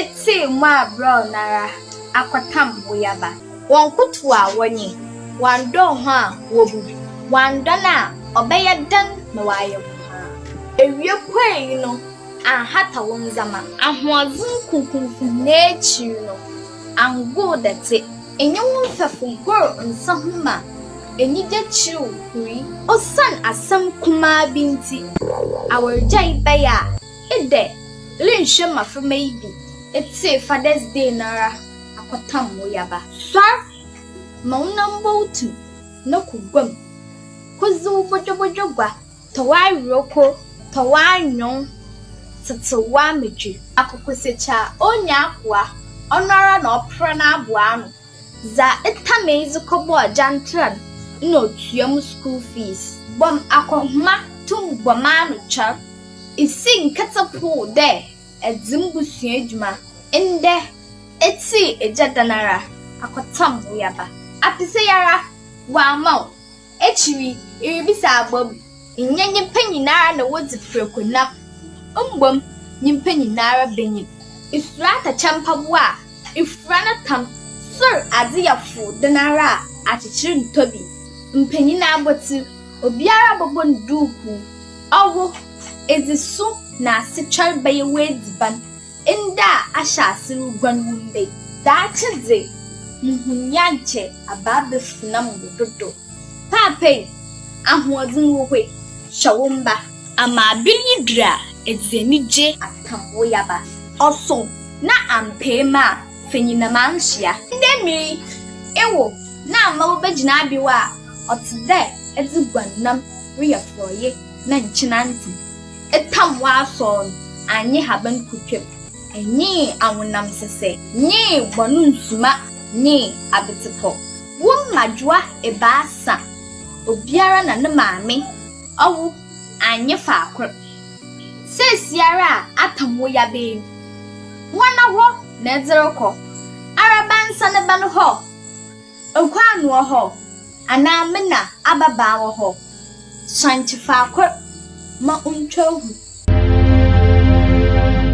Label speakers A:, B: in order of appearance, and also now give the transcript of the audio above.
A: Etsee mu a brɛoo noara akɔtam wo yaba. Wɔnkotow a wɔnye, wɔanndɔɔ ho a wobu. Wɔanndɔ no a ɔbɛyɛ dɛn na wɔayɛ wo haa. Ewia puei no annhata wo ndzɛmba. Ahoɔdzen kunkumfo nyina ekyir no anngoow dɛtse. Enye wo mfɛfo gor nsa ho ma enyigye kyerɛw huri. Osian asɛm kumaa bi ntsi awargyae bɛyɛ a. Edɛ, lennhwɛ mbaframba yi bi etsee Father's Day noara akɔtam wo yaba. Soar ma wo nan bɔ wo tsir na kɔ gua mu kodzi wo bɔdwɔbɔdwɔ gua, tɔ w'awerɛwko, tɔ w'anwon, tsetsew w'amadwe. Akokosakyi a onnya akoa, ɔnoara na ɔpra n'abow ano. Dza etã me yi dze kɔbɔɔ Jantra no nna otua mo skuul fees. Bɔm akɔhoma tum bɔ m'ano kyɛr. Isi nketse poo dɛ edze mbusua edwuma ndɛ etsii egya dan ara akɔtsam wo yaba. Apese yi ara wɔama wo. Ekyir yi, iribisa abom, nnyɛ nyimpa nyinara na wodzi prɛko nam, mbom nyimpa nyinara benyin. Isuro atɛkyɛ mpaboa a ifura no tam, sor adze yɛ fow dɛn ara a, akyekyer nntɔ bi. Mpanyin abɔtsir, obiara bɔbɔ no duukuu. Ɔwo, edze su na asetwɛr bɛyɛ w'edziban, Nda a ahyɛ ase ruguan wu ndɛ yi. Daakye dze, muhun nyankyɛ abaa bɛfunam wo do do. Paapa yi, ahoɔdzen wɔ hɔ yi, hyɛ wo mba. Ama aber yi dur a, edze enyigye. Atam wo yaba. Ɔso na ampee me a, fa nyinam ansoa. Ndɛ mber yi, ewo na ama wobegyina abew a ɔtse dɛ edze guannam reyɛ forɔye na nkyen antsem. Tam w'asɔr no, annye haban kotwa mu. Nye awonam sesɛ, nye bɔn ndzuma, nye abetsepɔ. Wo mmadwowa ebiasa, obiara na ne maame ɔwo annye faakor. Seseiara a atam wo yabaa mu, woana hɔ na edze rokɔ? Araba nsa ne bɛn hɔ? Nkwan wɔ hɔ, anaa me na ababaa wɔ hɔ? Sɔn te faakor ma ontwa hu.